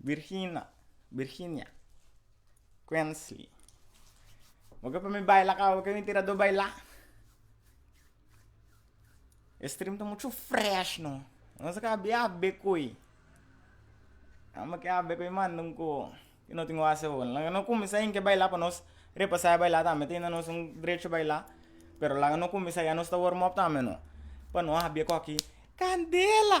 Virgina, Virginia, Quensley. Bo ke pa mi baila ka bo ke mi tirado baila? E stream ta muchu fresh no no se ka bia be koe amo ke a be koe manda un koho ke no tin wase bo laga no cuminsa ain ke baila pa nos repasa e baila tambe tin no nos un drecho baila pero laga no cuminsa ya nos ta warm up tambe no pa no a bia koki candela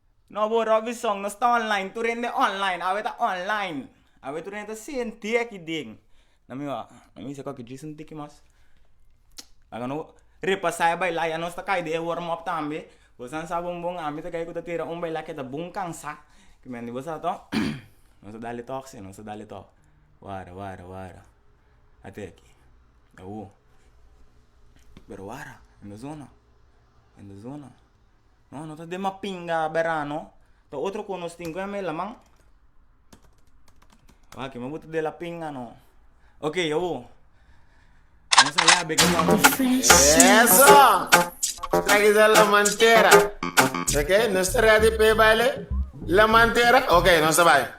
No bo Robinson nos ta online tur hende online awe ta online awe tur hende ta sentí aki den nan mi wou nan mi seko aki djis un tiki mas laga no repasa e baila ya nos ta kai den e wormup tambe bosa nan sa bon bon ami ta kai ku ta tira un baila ke ta bon kansa kimin di bosa ato nos a dale tok si nos a dale tok wara wara wara ate aki awo pero wara hende zona hende zona. No no ta dema pinga berano ta otro cu nos tin cu yame laman wak me bo ta dela pinga no ok awo nos a yabe cu nos Eso! Traki sa la mantera. Ok, nos ta ready pe baile. La mantera. Ok, nos ta baile.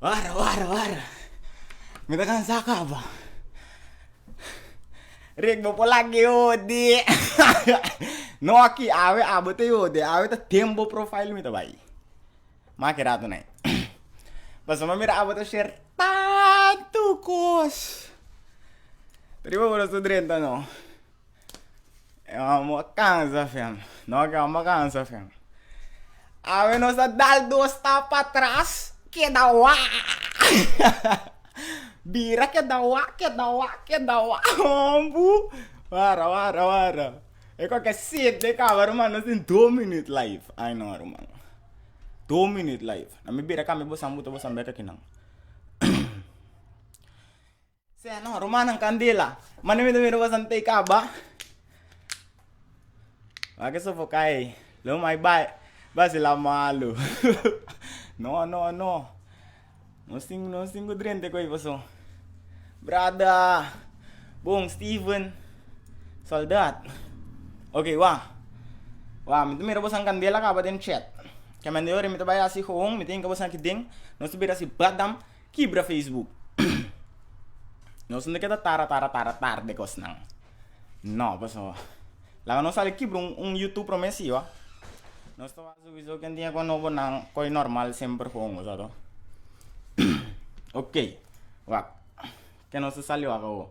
Wara wara wara mi ta kansa kaba ritmo por lag'e yodi no aki awe abo ta yodi awe ta den bo profail mi ta bai make rato nai pasobra mi a mira abo ta share tantu kos riba bo no so drenta no. E man mo a kansa fem, no ke amo a kansa fem, awe nos a dal dos stap atras keda waaaah, bira keda wak, keda wak, keda wak, hoon boe, wara, wara, wara, e kon ke set de kaba ruman, nos tin dos minut laif aino ruman, dos minut laif, na mi bira kami bosan buta bosan bek aki nan. Sea no, rumannan candela. Mane mi ta mira boso ante caba. Wa ke sofoca ei. Lo mai bai. Basi la malo. no, no, no. Nos tin, nos tin cu drente coi boso. Brada. Bon, Steven. Soldad. Ok, wa. Wa, mi ta mira boso candela caba den chet. Caminda e ora mi ta bai haci hoon, mi ta hinca boso aki den. Nos ta bira si badam. kibra facebook nos no ta keda tara tara tara tarde kosnan no pasobra laga nos sali kibra un youtube prome si ba nos ta wak sowieso ken tin a koe nobo nan koe normal semper kon cosa to okay wak ken nos ta sali wak awo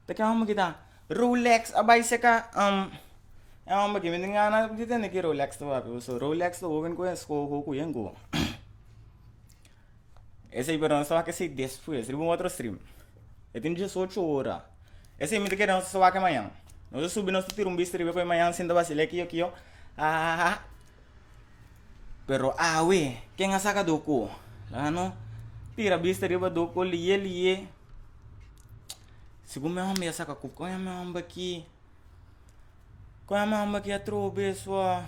ta ken homber kita rolex a bai seka um e homber aki mi tin gana di tende ki rolex ta wak pasobra rolex lo hoben koe escoho koe koe yen koe. Esei pero nos ta wak esei despues riba un otro stream, e tin diesocho ora, esei mi ta kere nos a wak e mañan, nos a subi nos ta tira un bista riba e mañan sin ta basila e kiyo kiyo aaha pero awe ken a saka doko a no tira bista riba doko lie lie segun mi homber a saka kup kon a mi homber aki kon a mi homber aki atrobe sua.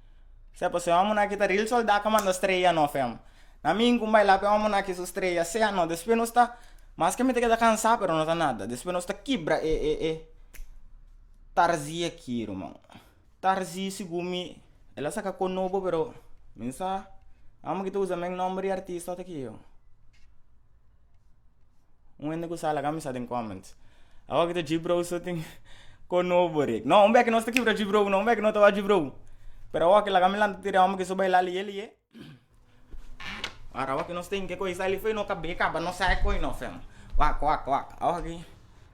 Sea pues e homber aki ta real soldado a manda strella no fe amo na mi cu baila pe homber aki su strella sea no despues nos ta mas que mi ta keda cansa pero no ta nada despues nos ta kibra e e e tarzi aki ruman tarzi segun mi el a saca con nobo pero mi sa amo ki ta usa men nomber di artista ota ki yo. un hende ku sa laga mi sa den comments awor ki ta jibrou so tin kon nobo rek no un beke nos ta kibra jibrou no un beke no ta wak jibrou pero awor ki laga mi lanta tiri awor mi ke so baila leye leye ora awor ki nos tin ke koy sa li fo'i no kaba nos sa e koy no fem wak wak wak awor ki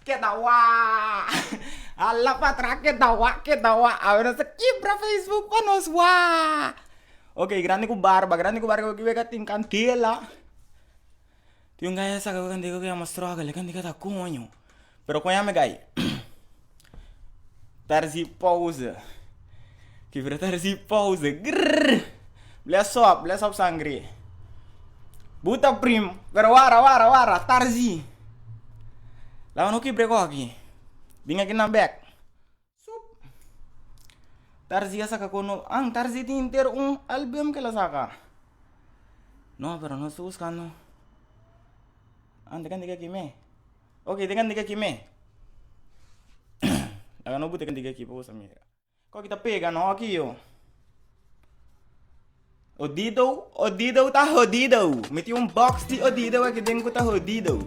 Keda wak a la pa atrás keda wak keda wak a nos a kimpra facebook pa nos wak ok grandi ku barba grandi ku barba kiwe ka tin kantela tin un gaya saka kantela ku yama struggle kende keda koño pero koño ami gai pèrdè pose Fibra ta recibi pause grrr blea sop blea sop sangre bu ta prim pero wara wara wara tarzi laga no kibre koki bin aki nan bek sup tarzi a saka kono an tarzi tin inter un album kel a saka no pero nos ta buscando an te kende ke aki me oke te kende ke aki me laga no bute kende ke aki pa boso mira. Koki ta pega no oki yo. Odido odido ta hodido. Mi tin un box di odido aki den ku ta hodido.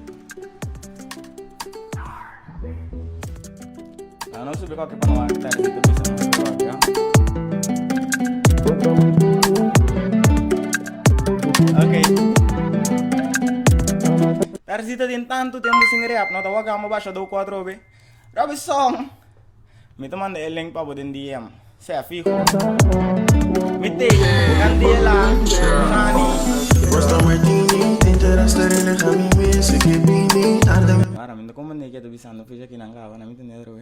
Ah, no sube koki pa no aki tari si te bisa no sube koki, ah. Okay. Tarzita tin tanto tempo sin rap, no ta wak amo basha do cuatro be. Robinson, Mi ta manda e link pa bo den DM, sea fiho. Mi take, candela, Nani. Mara, mi no comprende ke ta bisando fecha kinan kaba, na mi ta nel roe.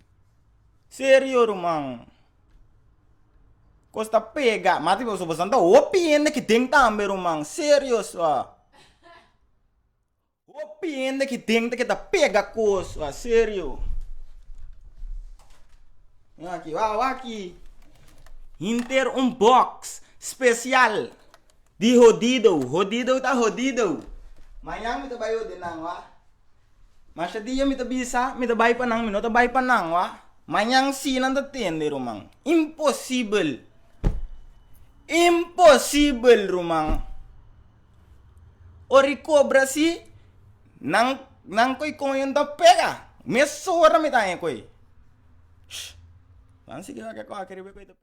Serio ruman. Cos ta pega. Mati boso boso ta hopi hende ki den tambe ruman. Serio sua. Hopi hende ki den te ke ta pega cos sua. Serio. Mira aki wou wou aki hinter un box special di hodido. Hodido ta hodido. Mañan mi ta bay ordenan wou a. Masha dia mi ta bisa mi ta bai pa nan, mi no ta bai pa nan wa, mañan si nan ta tende ruman, imposibel, imposibel ruman, ora i kobra si nan nan ko'i koño ta pega, mes ora mi ta haña ko'i, shh, nan sigi wak e kòke riba e ko'i ta pega.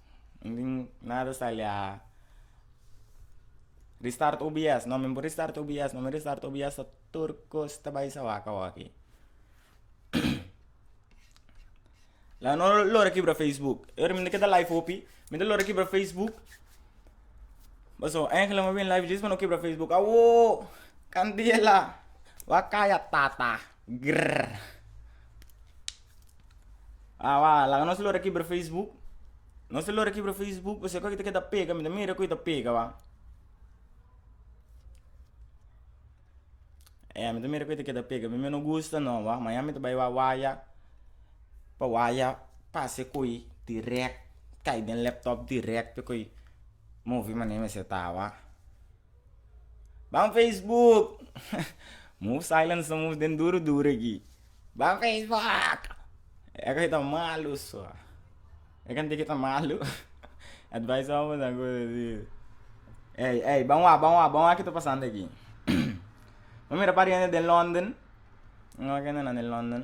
Nin nada sta aliá. Restart obs no mi bo restart obs no mi restart obs so tur cos ta bai sa wak awo aki la no lo a kibra facebook e ora mi ta keda live hopi mi ta lo a kibra facebook paso angela mi a bin live djis pa no kibra facebook awoo candela wak kaya tata. Grrrr. A wak, laga nos lor a kibra facebook. Nos ta lor a kibra facebook pasobra kiko ta keda pega, mi ta mira ku e ta pega wak. E mi ta mira ku e ta keda pega, mi no gusta no wak, mañan mi ta bai wak waya, pa waya pase koy direct, kai den laptop direct, koy movi mane mi a seta wak. Ban facebook move silence ta move den duru duru aki ban facebook eke ta malu so e kende ke ta malu advice awor ta kos asi ey ey ban wak ban wak ban wak kito pasando aki bo mira pariente den london bo mira kende nan den london.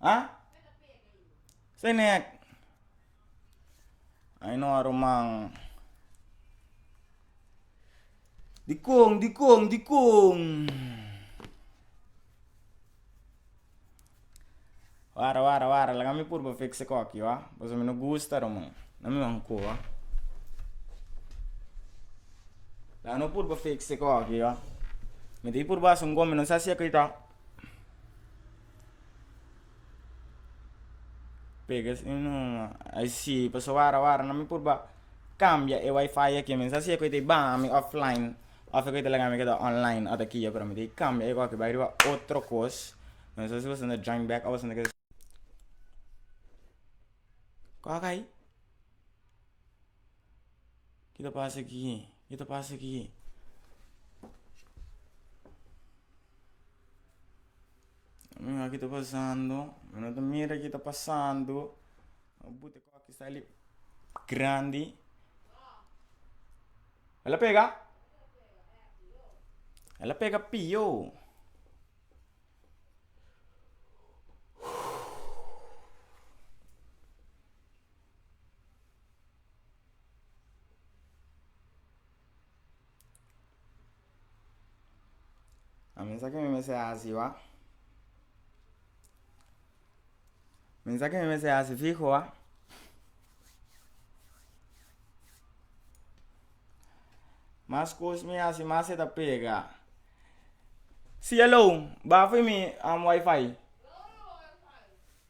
Ah? Fenèk. Ai no a ruman. Dikon, dikon, dikon. Wara, wara, wara. Laga mi purba fiksi ku aki, wak. Pasobra mi no gusta ruman. Na mi wan ku, wak. Laga no purba fiksi ku aki, wak. Mi ta purba hasi un gombe, no sa si e ku i ta. Pega si no ai si paso wara wara no mi por ba cambia e wifi aki mi sa si ecu ta baha mi offline of ecu ta laga mi ke ta online ota ki yo pero mi ta cambia ecu aki bai riba otro cos no se si boso ta join back of boso ta kiko aki. Ki ta pasa aki? Ki ta pasa aki? Mira ki ta pasando, mi no ta mira ki ta pasando, no buta kos ki sali grandi, el a pega, el a pega pio, A mensa ke mi mester hasi wak mensa ke mi mester hasi fiho wak mas kos mi hasi mas e ta pega cielo bafe mi am wifi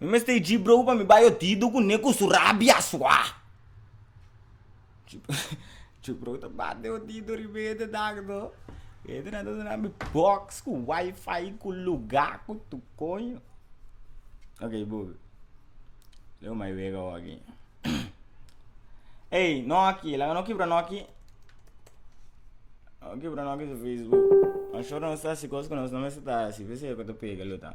Mi mester e djibrou pa mi bai otido ku ne ku su rabia asua. Djibrou ta bat den otido riba e te dag no. E te nan ta duna mi box ku wifi ku luga ku tu koño. Ok bo, lo bai wega awor aki. Ey no aki, laga no kibra no aki. Laga no kibra no aki su facebook. Anshor nos ta hasi kos ku nos no mester ta hasi, p'esei ku ta pega lo ta.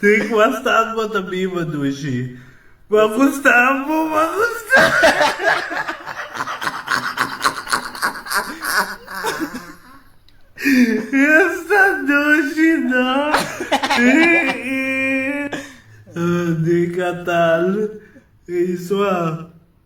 Tin cua stad bo ta biba dushi. Cua cu stad bo cua cu stad dushi no Di catal y sua.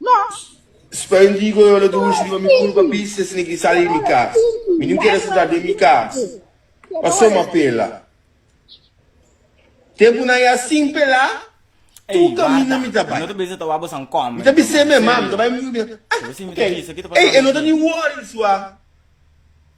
Nos. Spain digo yo lo dushi riba mi culpa bista si niki sali di mi cas. Mi no kier a sentá den mi cas pa soma pela. Tempunan ya sin pela tur caminda mi ta bai. Mi ta bis'é mema mi ta bai mi ta bira bira, ah, ok, ey e no ta ni worry sua.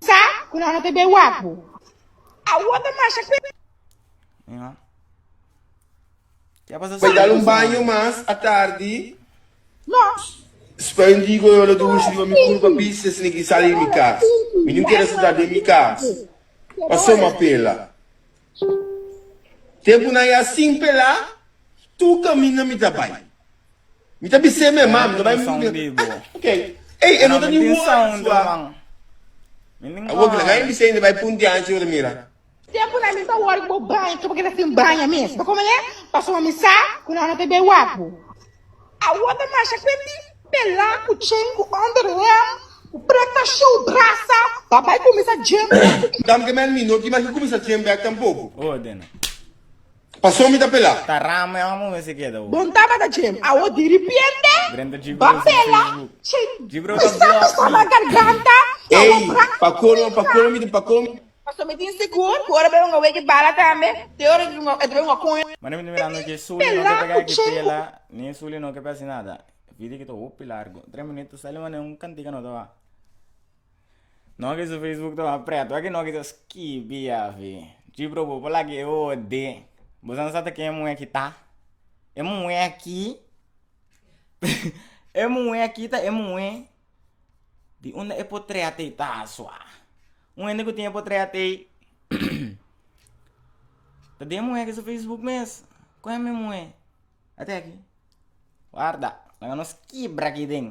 Sa cu nan no ta bay wak bo. Awor ta masha cu e. Mira. Kia pasa Bay dal un baño mas atardi. No. Spray un digo yo lo dushi riba mi curpa bis si esne ki sali di mi cas. Mi no kier resultado den mi cas. Pa soma pela. Tempunan ya sin pelá, tur kaminda mi ta bai. Mi ta bis'é mi erman, mi ta bai muchu bida. Ah, ok. Ey, e no ta niun wòrdu sua. Awor kila kain bis'é inda bai puntiá anchi ora mira. Tempunan mi ta wòrdu ku bo baña, kaba keda sin baña mes. Bo komo lei? Pasobra mi sa ku nan no ta bai wapu. Awor ta masha kuenti pela ku chen ku under hem ku preta show brasa pa bai kuminsa jam back. Dam ke men mi no di mas mi kuminsa jam back tampoku. Ordena. Paso mi ta pela. Ta rama e omo mi si keda u. Bon tabata jam awor diripiente ba pela chen pisa pisa na garganta awor brasa. Ey pa colmo pa colmo mi ta pa colmo. Pasobra mi tin sigur ku ora bo yunga weki bala tambe, te ora e ta bai yunga kon. Mane mi ta mira anochi e suli no ke ta keda ki pela ni e suli no ke p'hasi nada vidi ki ta hopi largu tres minutu sali mane un kantika no taba no ki su facebook taba pretu aki no kisa skibi avi chi bro bo pala ki e ode bo sa ta ken e muhe aki ta e muhe aki e muhe aki ta e muhe di unda e po trea te ta asua. Un hende ku tin e potret ei ta den muhé ke su facebook mes kue mi muhé a te aki warda laga nos kibra aki den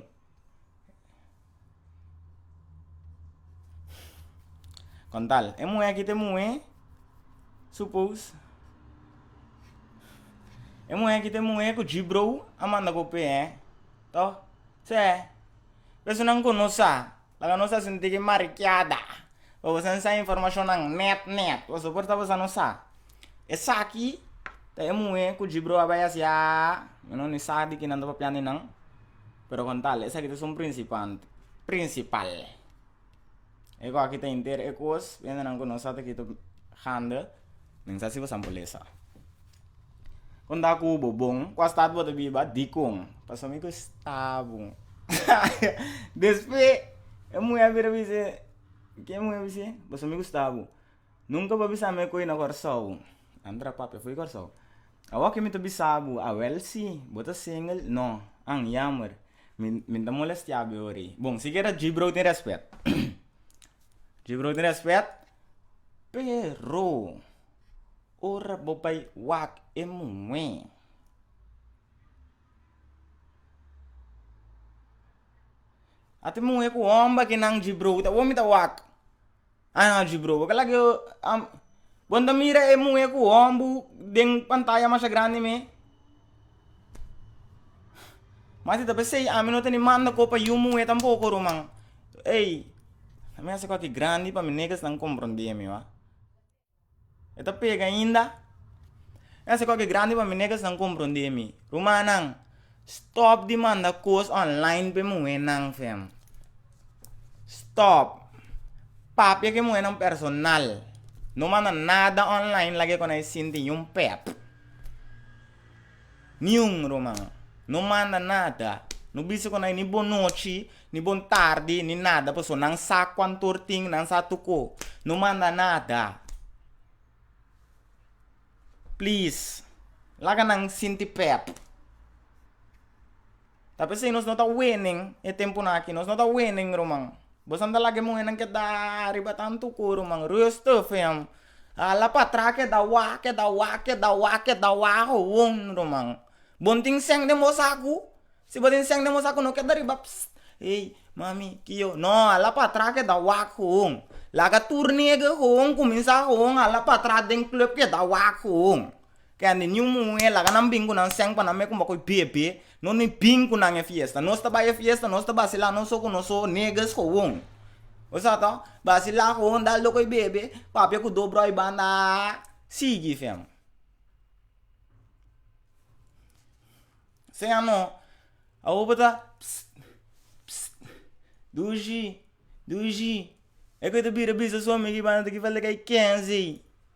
kontal e muhé aki ta muhé su pous e muhé aki ta muhé ku jibrou a manda ku p'e to se pesonan ku no sa. Laga nos a sinti ki marikiada pa boso a sa informashonnan nèt nèt, boso por ta boso a no sa. Esaki ta e muhé ku Jibru a bai a siá, mi no ni sa di kinan ta papián di nan, pero kon tal, esaki ta sun prinsipante, prinsipal. E go aki ta henter e kos, bientenan ku nos sa ta kita hande, men sa si bo sa pulesa. Kon ta ku bo bon? Kua stat bo ta biba? Dikon? Pasobra mi ku e stabu. Despues, e muhé a bira a bis'é, ke e muhé a bis'é? Pasobra mi ku stabu, nunka bo a bisa mi ku e na kòrsou. A ntra papia fo'i kòrsou. Awor ke mi ta bisa bo, awèl sí, bo ta singel? Nò. An, yammer. Mi, mi ta molestia bo ora ei. Bon, sikiera Jibrou tin rèspèt. Jibrou tin rèspèt, pero. Ora bo bai wak e muhé. Ata e muhé ku homber ke nan dji brobi ta bo mi ta wak a nan a dji brobi aka lagio am bon ta mira e muhé ku hombu den pantaya masha grandi me mas di ta pesei ami no teni manda kopa yu muhé tampoko ro man ei ami a hasi koki grandi pa mi negas nan komprondemi wa. E ta pega ainda. Nan sa kua ke grandi pa mi nega esnan comprende mi rumannan stop di manda cos online pe muhenan sèn stop papia ke muhenan personal no manda nada online lag'e kua nan e sinti ni un pèt. Niun ruman no manda nada, no bisa ku nan ni bonochi, ni bon tardi, ni nada, pasobra nan sa kuan tur tin, nan sa tur ko. No manda nada. Please, laga nan sinti pèp. Ta p'esei nos no ta wenen e tempunan aki, nos no ta wenen, ruman. Bo sa ta laga e muhernan keda riba tantu ku, ruman, rustig, yam. Hala patras keda wak, keda wak, keda wak, keda wak awon, ruman. Bon tin sèn den bo sa ku, si bo tin sèn den bo sa ku no keda riba pss, ey, mami, ki yo. No, hala patras keda wak awon. Laga tur nega awon, kuminsá awon, hala patras den club keda wak awon. Kende niun muhé a laga nan bin ku nan sèn pa nan mei kumba koi bebe, nos no e bin ku nan e fiesta. Nos ta bai e fiesta, nos ta basila nos so ku nos so negus gewoon. Bo sa to? Basila gewoon dal dor koi bebe, papia ku dor bròi banda aa sigui fèm. Sea no, awo bo ta pss pss dushi dushi e ke ta bira bisa su amigu i banda ta ki falta ke i kenzi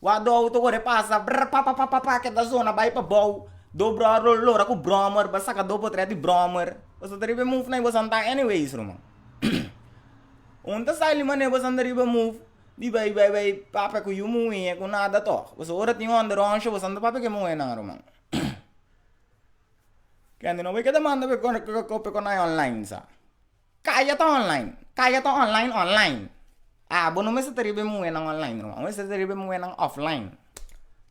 Wak do auto word e pasa brr pa pa pa pa keda zona bai pa bou do bror lo lora ku brommer ba saka do potrèt di brommer bo sa ta riba e move na i bo san ta anyways ruman un ta sa limanera bo san ta riba move di bai bai bai papia ku yu muhé ku nada tò bo sa ora tin hònde rònsha bo san ta papia ku e muhé nan ruman kende no bai keda manda pe kò pe konai online sa. Kaya ta online, kaya ta online online. Ah bo no mester ta riba e muhernan online ruma, bo mester ta riba e muhernan offline.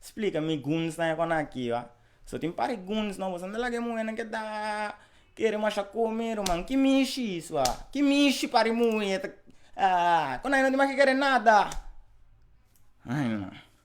Splika mi guns nan e kon aki wa. So tin par di guns nan bo san ta laga e muhernan ke ta kere masha kome ruman. Ki mishi isua, ki mishi par di muher ta ah kon aki no tin mas ke kere nada.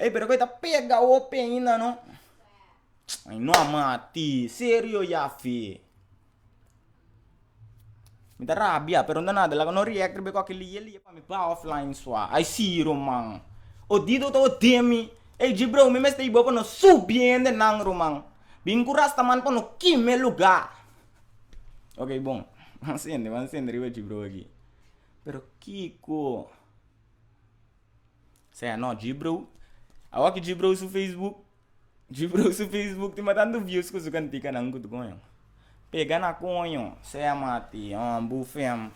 Ey pero kue ta pega hopi ainda no ey no a mati serio yafi mi ta rabia pero no nada laga no react riba esaki lie lie pa mi bao flain sua ay siro man odido ta odi mi ey dje bro mi mester ibo pa no subi hende nan ro man bin ku rasta man pa no kime lugar ok bon a sende a sende riba dje bro aki pero kiko. Sea no Gibrow awor ki Gibrow su facebook Gibrow su facebook tin batantu views ku su kantikanan ku ta koño pega na koño sea mati hombre u fem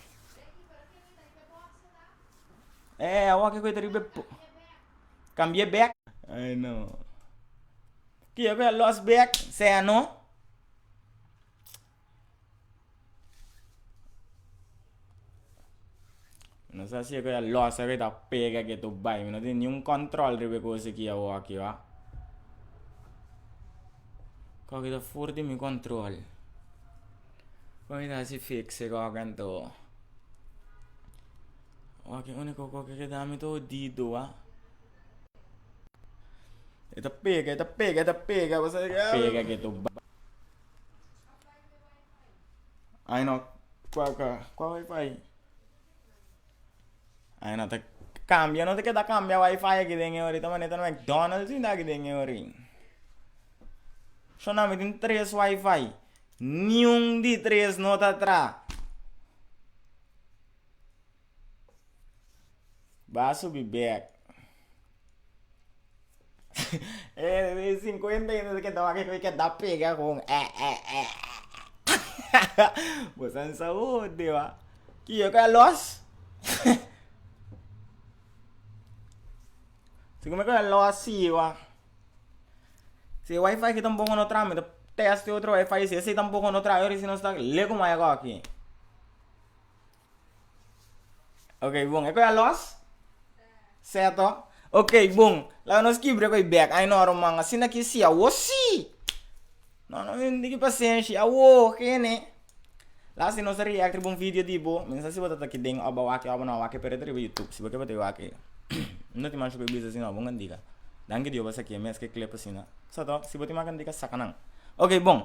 eh awor kiko ta riba po cambie bek ai no kiko a los bek sea no. Nos a sigue ya losa a ta pega ke to bai mi no tin niun control riba e cosa aki awoki wa kok ta for di mi control kok ta hasi fixi kok en to woki unico kok ke ta mi todo dido wa e ta pega e ta pega e ta pega. Ai no kua kua kua wifi ai no ta cambia no ta keda cambia wifi aki den e ori ta maneer ta mcdonalds hinda aki den e ori sho nan mi tin tres wifi niun di tres no ta tra ba subi back E sinkuenta yende ta keda wak e keda pega kon e e e bo san sa hode wa ki yo ku a lòs si kome ku a lòs si wa si e wifi ki ta un poko no traha mi ta tèst otro wifi si ese tampoco no traha oris nos ta le ku mai akò aki. Ok bon, e koi a los? Seto? Ok bon, laga nos kibre koi bek, ai no ruman, asina ki si, awo si! No, no men diki pasenshi, awo, kene. Last day nos a react riba un video di bo, men sa si bo ta ta ki den, oba wak, oba no wak, pero ta riba YouTube, si bo ke bati wak, no tin masha koi bisa si no, bo ngan dika. Danki Dios bo a saki e mes ke clip asina. Seto? Si bo tin man kan dika, saka nan. Ok bon.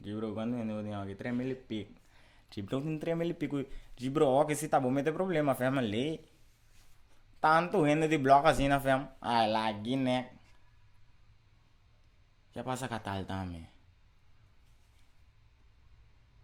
Dji bro cuantu hende bo tin awor aki tres mil y pico dji bro tin tres mil y pico dji bro oki si ta bo mete problema fem alei tantu hende di block asina fem ah la gi nèk kia pasa ka tal tambe.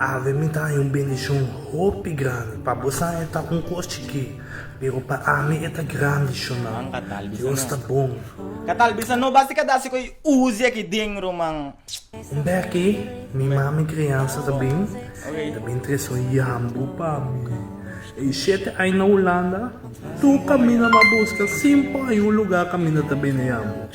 Ave mi ta haña un bendishon hopi grandi, pa bosan e ta un kos chikí, pero pa ami e ta grandi shonau. Dios ta bon. Ka tal bisa no basta ka dasi ko'i uzi aki den ruman. Un bèk'e mi mami kriansa ta bin, e ta bin trese un yambu pa mi. E i shete ai na Hulanda, tur kaminda mi a buska sin por ai un lugá kaminda ta bende yambu.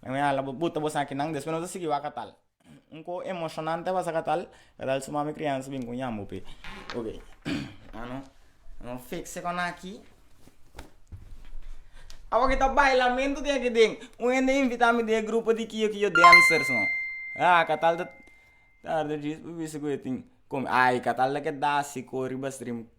Nan a hala bo bota bo saki nan despues nos a sigui waka tal un koho emocionante a pasa ka tal kadal su mami crianza a bin con yambo pe ok ano ano fix se con aki awa ki ta bailamento tin aki den un hende invita mi den e grupo di kiyo kiyo dancers no a ka tal ta tarde djis bo bisti ku yo tin con ay ka tal ta keda si cori bas dream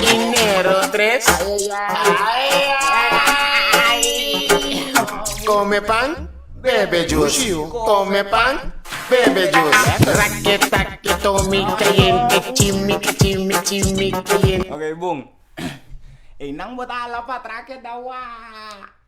Dinero tres Come pan, bebe juice Come pan, bebe juice Raki taki tomi caliente Chimi ki chimi chimi caliente Ok bon Ei nan bota hala pa atrás ke da wak.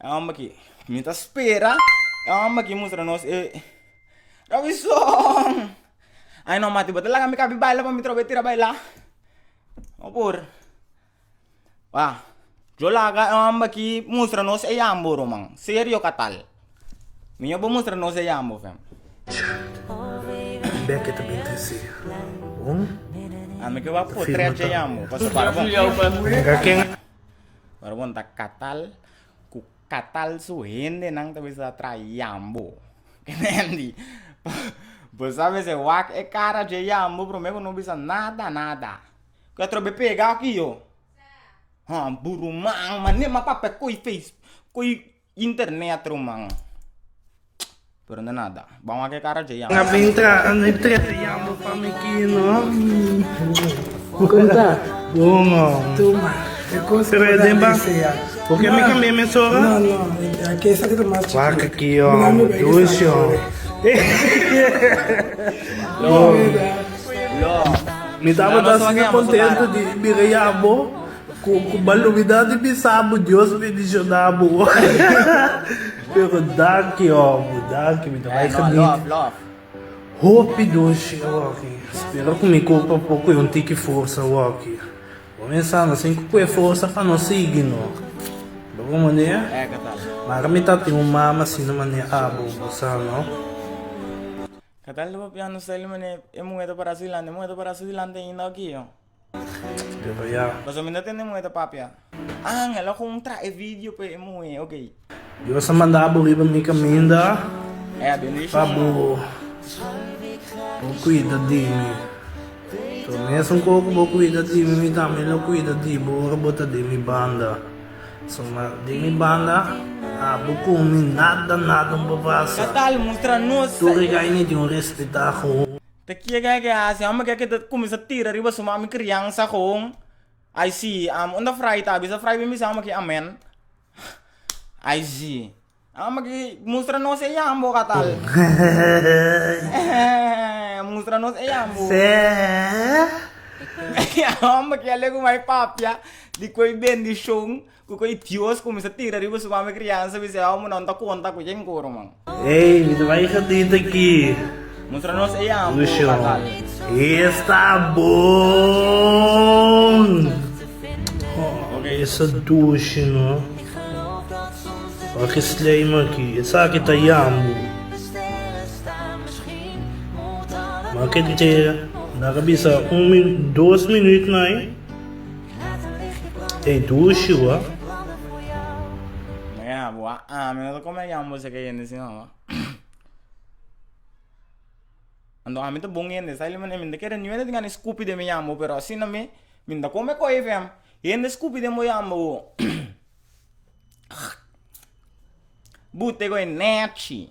E homber ki mi ta spera. E homber ki mustra nos e. Robinson! Ay no mati, bo ta laga mi kabi baila pa mi trob'e tira baila? No por. Wak, yo laga e homber ki mustra nos e yambo, Roman. Serio ka tal. Miño bo mustra nos e yambo, fem. Becky ta bin trese. Bon. Ami ke wak potret e yambo. Pasobra bo. Mira ken. Ora bon ta katal, ku katal su hendenan ta bisa tra yambo. Kendi, bo sa mester wak e kara dje yambo promé ku no bisa nada nada. Ku e trobe pega aki yo. Sa. Hon, buruman, mané ma papia ko'i feis, ko'i. Internet ruman pero no nada bam wak e kara dje yama. Na bin tra a no tre a yama pa mi ki no Bo konta? Duma. Duma. E kos Pero e den ba Bo ke mi kambia mi sora? No no a ke sa kete mas chikit. Wak a ki yo amo dus yo. Lo lo. Mi tabata asina kontento di bira yama bo. Cu malumidad di bisa bo Dios bendiciona bo. Pero danki omo, danki mi ta bay geniet. Hopi doshi awaki. Spero cu mi cuerpo por coge un tiki forsa awaki. Bo a mensa nos tin cu coge forsa pa nos sigui no. Bo bo manera? Mara mi ta tin un mama asina mane abo, bo sa no. Catal ta papiando Sally mane e muhe ta para su dilante, e muhe ta para su dilante ainda okijo. Pasobra mi no tende muhé ta papia. Ángel a kon trahe vidio pa e muhé, oke. Dios a manda bo riba mi kaminda pa bo bo kuida di mi. So mesun ko ku bo kuida di mi, mi tambe lo kuida di bo ora bo ta den mi banda. So ma den mi banda abo ku mi nada nada un papasa. Tur e gai mi tin un respetá ku. Ta kie ke ke hasi homber ke ke ta cuminsa tira riba su mami criansa con ai si amo unda fray ta bisa fray bini bisa amo aki amen ai si amo aki mustra nos e yambo katal mustra nos e yambo homber aki a legu mai papia di koe bendicion. Cu cu e Dios cuminsa tira riba su mame crianza bisai awo munda no ta conta cu yen coro man. Ey mi ta bay e gatito aki. Mustra nos ey ambo batal. Esta bon! Ho, esa dushi no. Wak e slijm aki. Esaki ta yambo. Mak e dje. Daka bisa un min dos minut nai. Ei tu Shua. Mira bo a ami no ta come a yama boso ke yende sino ho anto ami ta bon yende sa elimi mi ta kere niño tin gana scupi den mi yama bo pero asina mi mi ta come coye fe am yende scupi den bo yama bo bu tego e nechi.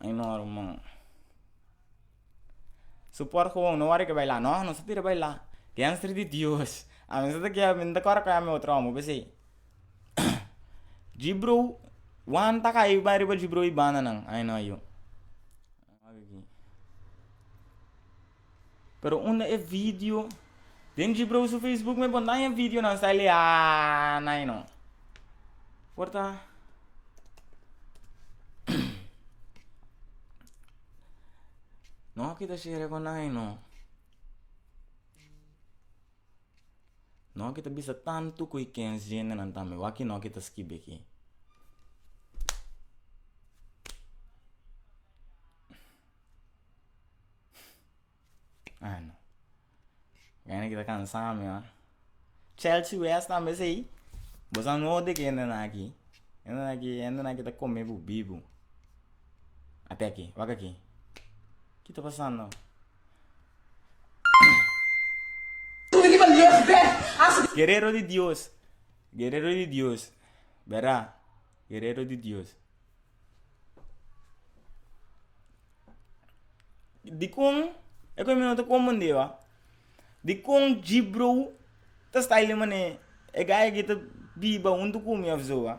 Ai normal su por gewoon no wari ke baila no nos ta tira baila dianster di dios a mesa ta kiawe mi no ta kor ku ami otro homo pese jibrou wan ta kai bai riba jibrou i banda nan ai no yu. Pero unda e video? Den Jibreu su Facebook me pon daña videonan sali haa nai no. Por ta no kita share con nai no. No ki ta bisa tantu ku i kens jendenan tambe wak i no ki ta skibi aki. Ano kende ki ta kansa mi a chelsi wes tambe esei bo sa no de kendenan aki kendenan aki hendenan ki ta kome bo bibu a te aki wak aki ki ta pasando. Guerero di Dios Guerero di Dios Bera Guerero di Dios Dikon e ku mi no ta komprende ba dikon G-Broe ta style manera e guy aki ta biba huntu ku mi of so ba.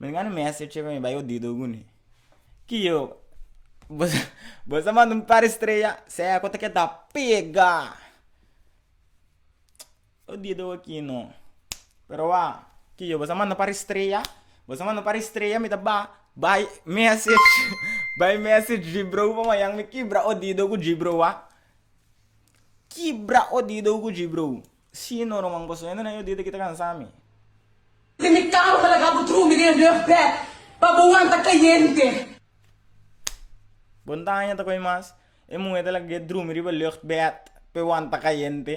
Mi ngani mester chepe mi bai odido guni ki yo bo sa manda un par estrella sea ku ta keda pega odido aki no pero a ki yo bo sa manda un par estrella bo sa manda un par estrella mi ta ba bai mester bai mester dri bro pa manyan mi kibra odido ku dri bro a kibra odido ku dri bro. Sí no no manco sueño na yo dia ta kita cansa mi. Si mi cama ta laga bo tru mi den rough bed pa bo wanta cayente. Bon taña ta coy mas e muhe ta laga e drumi riba lucht bed p'e wanta cayente.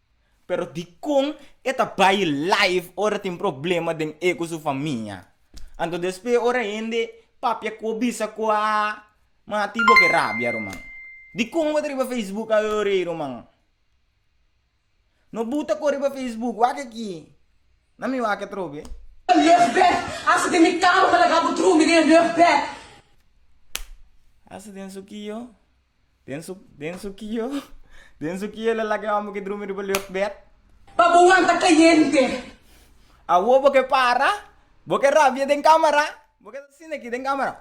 Pero dikon e ta bai live ora tin problema den e ku su famia? Anto despues ora hende papia ku bisa ku a mati bo ke rabia ruman. Dikon bo ta riba facebook a yo rei ruman? No buta ko riba facebook, wak aki, na mi wak atrobe. Luchtbed hasta den mi kama pa laga bo drumi den luchtbed. Hasta den su ki yo? Den su den su kio den su kio el a laga e homber ke drumi riba lucht bed. Pa bo wanta cayente. Awo bo ke para? Bo ke rabia den camera? Bo ke ta asina aki den camera?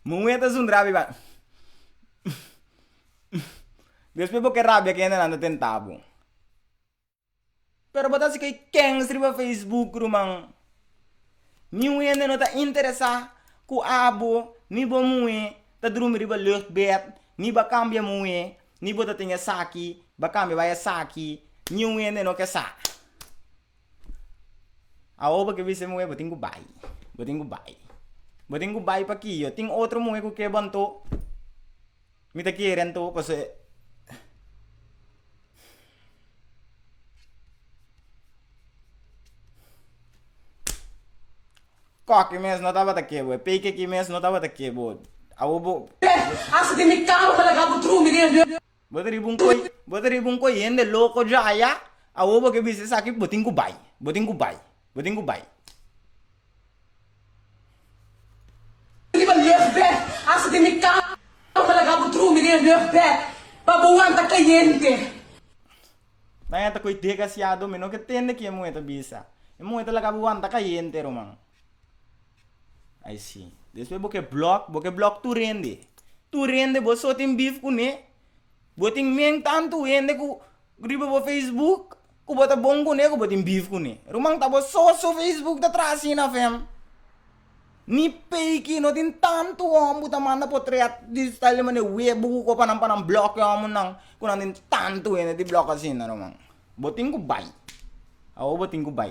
Muhe ta zundra abi ba despues bo ke rabia kende nan ta tenta bo. Pero bo ta haci key kens riba Facebook ruman? Mi wende no ta interesa cu abo ni bo muhe ta drumi riba luchtbed ni ba cambia muhe ni bo ta tin esaki ba cambia bay esaki mi wende no ke sa. Awo bo ke bisa mi wende bo tin cu bay bo tin cu bay bo tin cu bay paki yo tin otro muhe cu ke bo anto. Mi ta kere anto pa sa e. Koki mes no tabata ke bo, e pei keki mes no tabata ke bo. Awo bo. Hasta tin mi karo pa laga bo drumi den e. Bo ta riba un koi, bo ta riba un koi hende loko dja ya. Awo bo ke bisa esaki bo tin ku bai, bo tin ku bai, bo tin ku bai. Riba luchtbed hasta den mi cama laga bo drumi den e luchtbed pa bo wanta caliente. Nan ya ta coy degasiado mi no ke tende ki e muhe ta bisa e muhe ta laga bo wanta caliente ruman ay si despues bo ke block bo ke block tur hende tur hende bo so tin beef cune bo tin men tanto hende cu riba bo facebook. Ku bo ta bon kuné ku bo tin bif kuné. Ruman ta bo so su facebook ta traha asina fem. Ni peiki no tin tantu hom bu ta manda potret di style di mane web bu buko pa nan pa nan block e homo nan ku nan tin tantu hende di block asina ruman. Bo tin ku bai. Awo bo tin ku bai.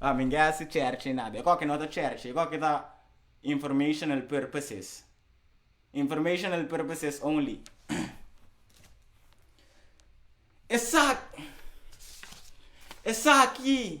Ah, mi ke hasi cherchi nada. Eko ke no ta cherchi, eko ke ta informational purposes. Informational purposes only. Esaki, esaki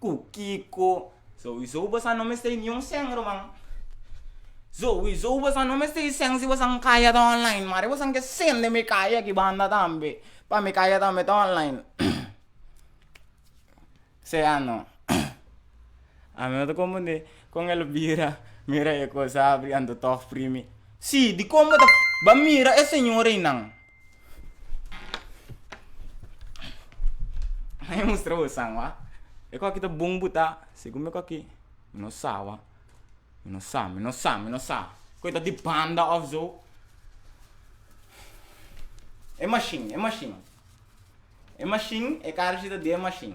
Ku kiko? Zoe Zoe bosa no mester di niun sèn ruman. Zoe Zoe bosa no mester di sèn si bosa'n kaya ta online mari bosa'n ke sèn den mi kaya aki banda tambe pa mi kaya tambe ta online sea no ami no ta konfunde kon el bira mira e kos abri anto tog primi si dikon bo ta ba mira e señor einan. Bai mustra bo san wak e kos ki ta bon bo ta segun mi kos ki mi no sa wak mi no sa mi no sa mi no sa ku ta di banda of so e mashin e mashin e mashin e kar shi ta den mashin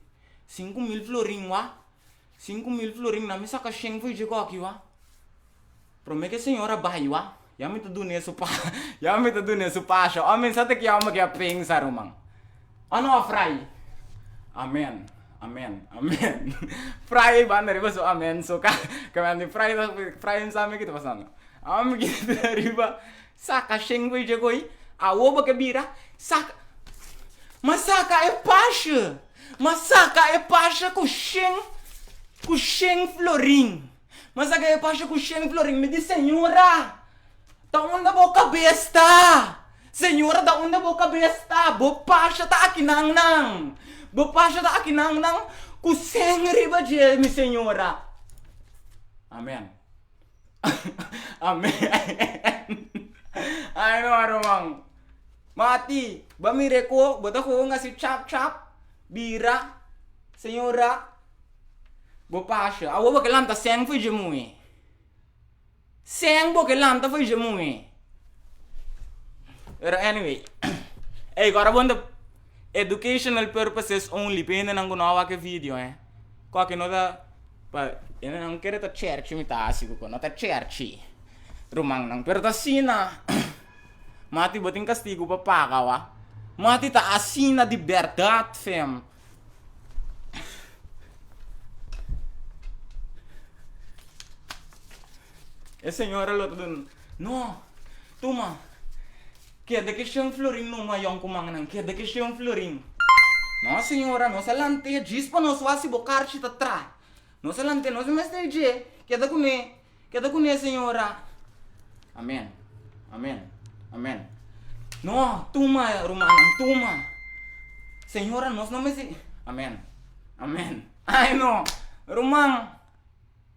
Sinku mil florin wak? Sinku mil florin na mi saka shen for dje koki wak? Prome ke señor a bai wak, ya mi ta duna e sopa, ya mi ta duna e sopa asha. Ò men sa ta kia ome ke a pensa, ruman? Ò no a fraye? Amen, amen, amen. Fraye banda riba su amen so ka, kaminda di fraye, fraye no sa me ke ta pasando. Ò mi kiti ta riba. Saka shen bo dje goi awo bo ke bira saka ma saka e pashe ma saka e pashe ku shen ku shen florin ma saka e pashe ku shen florin mi di señora ta unda bo kabes ta señora ta unda bo kabes ta bo pashe ta akinan nan bo pashe ta akinan nan ku shen riba dje mi señora amen. Ay no a ruman. Mati, bo a mira e koe, bo ta koe un hasi chap chap, bira, señora, bo pasha. Awor bo ke lanta sèn fo i dje muhe. Sèn bo ke lanta fo i dje muhe. Pero anyway, ey kòrda bon ta, educational purposes only, p'e hendenan ku no a wak e video, eh. Koke no ta pa nan kere ta cherchi mi ta hasi koko no ta cherchi ruman nan pero ta asina mati bo tin castigo pa paga wa mati ta asina di berdad fem e señora lo ta duna no tuma Keda ke shen florin no mayon ku mannan keda ke shen florin. No señora nos a lante djis pa nos wasi bo karchi ta tra nos a lante nos no mester dje keda kune keda kune señora amen amen amen no tuma rumannan tuma señora nos no mester amen amen ay no ruman.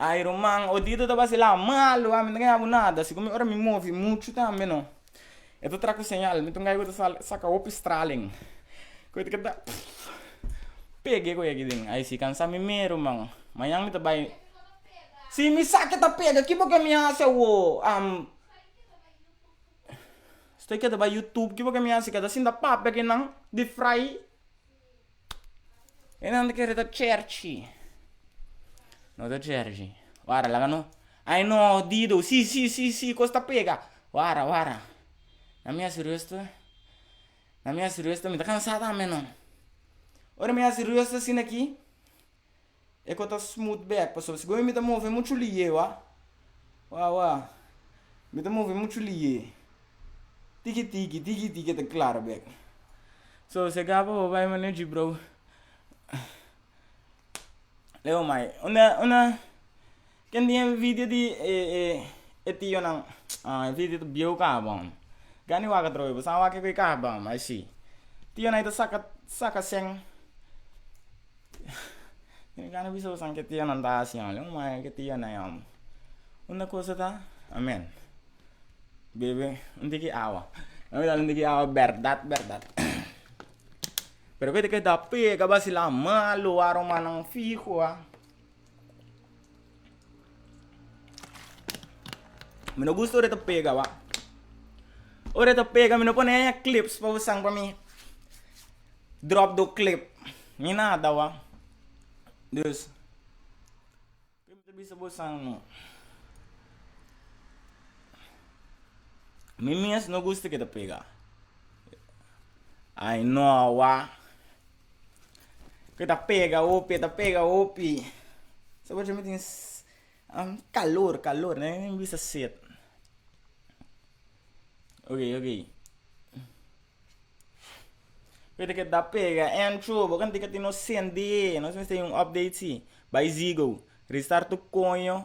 Ay ruman odito ta vacila malo ami no ta habu nada si cu mi ora mi movi mucho tambe no e ta traha cu señal mi ta un gay cu ta sal saca hopi stralen cu ta keda pege cu yeki den ay si cansa mi me ruman mañan mi ta bay si mi sa ke ta pega kibo ke mi haci awo am estoy keda bay youtube kibo ke mi haci keda sinta papia kinan di fry E nan ta kere ta cherchi, no ta cherchi, wara laga no, ai no dido si si si si kos ta pega, wara wara, na mi a serios to, na mi a serios to mi ta kansa tambe no, ora mi a serios asina aki e ko ta smut bek pasobra si goe mi ta move muchu liye wa wa wa mi ta move muchu liye tiki tiki tiki tiki e ta klara bek so se gaba bo bai mane jibrou leo mai una una. Ken tin envidia di e tionan? Ah envidia ta bieu kaha bam. Gani wak atrobe bo sa wak ke kaha bam ai si. Tionai ta saka saka shen tin gana bisa bosan ke tionan ta hasi hom leu mae ke tionai hom. Unda kosa ta amen bebe un tiki awa nan mi dal un tiki awa berdad berdad pero keda ke ta pega basila malo a romannan fiho a. Mi no gusta ora ta pega wa. Ora ta pega, mi no pone e clips pa usang pa mi. Drop do clip. Ni nada wa. Dus, ke mi ta bisa bo usang no. Mi mes no gusta ke ta pega. Ai no wa. Ke ta pega hopi, ta pega hopi. Sabor mi tin calor, calor no hay bisa set. Oke, oke. Keda ke ta pega entro, bo kende ke tin osende, nos mester youn update si. Bai Zigo, restart tu koño,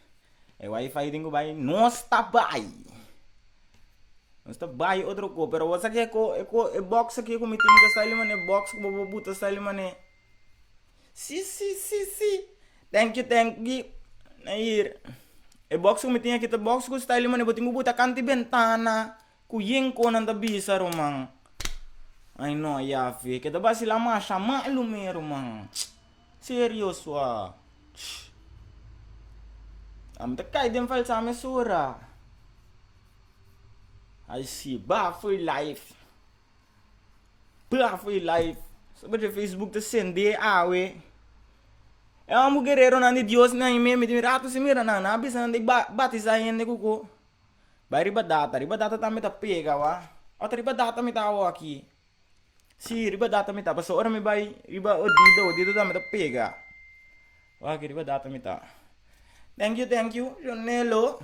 E wifi tin cu bay nos ta bay nos ta bay otro co pero awor sa kico kico e co e box aki cu mi tin ta sa elimane e box cu bobo bo ta sa elimane si si si si thank you thank you na yir e box cu mi tin aki ta box cu sta elimane bo tin cu bo ta canta e bentana. Ku yen kon nan ta bisa ruman? Ai no Yahve, ke ta basila masha malu mi ruman. Serio su a? Shh! Ami ta kai den falsa mesura. Ai si, ba for life. Ba for life. Su bidje facebook ta sende awe. E wan bu guereronan di Dios nan ei me, mi tin miratu si mira nan, nan a bisa nan dei ba-batisa hende ku ko. Bai riba data, riba data tambe ta pega wak, ot riba data mi ta awo aki, si riba data mi ta pasobra mi bai riba odido, odido tambe ta pega, wak aki riba data mi ta, thank you thank you ronelo,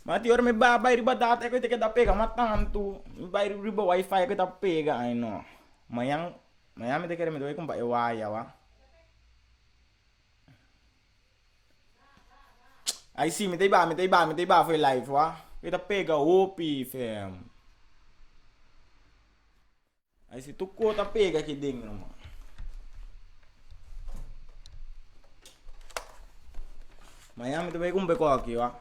ma tin ora mi bai a bai riba data aki oi ta ke ta pega ma tantu, mi bai riba wifi aki oi ta pega ai no, mañan mañan mi ta kere mi ta bai kumpa e waya wak. Ai si mi ta i ba mi ta i ba mi ta i ba for e live wak mi ta pega hopi fem ai si tur ko ta pega aki dentro man mañan mi ta bai compra e cosa aki wak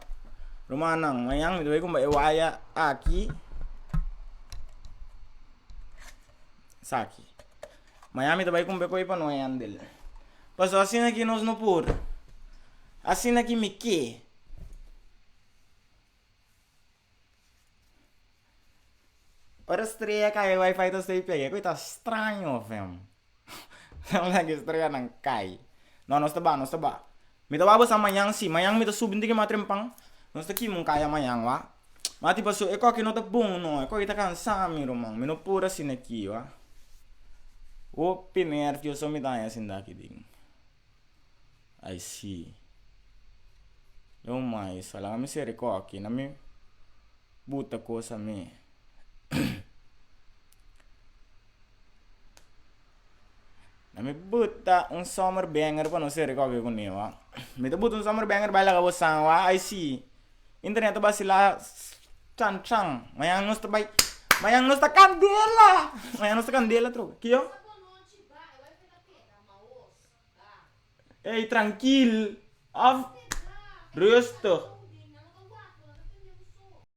rumannan mañan mi ta bai compra e waya aki saki. Miami ta bai kumbe ku ei pa no hendel. Paso asina ki nos no por. Asina ki mi ke. Ora strea a kai wifi ta stay pega e koi ta straño afem. Estrela nan kai. No nos ta ba nos ta ba. Mi ta wak basa mañan si. Mañan mi ta subi tin ki mas trempan. Nos ta kima un kaya mañan wa. Ma tin paso e koki no ta bon no. E koki ta kansa mi ruman. Mi no por asina aki wa. Hopi merti yo so mi ta haña sinda aki tin. Ai si. Lo mais a laga mi sere koki na mi buta kosa mi. na mi buta un zomerbanger pa nos e recoge coneho ah, mi ta buta un zomerbanger bai laga bo san wah ai si internet ta bacila chan chan mañan nos ta bai mañan nos ta candela mañan nos ta candela atrobe kijo ey trankil af rustig.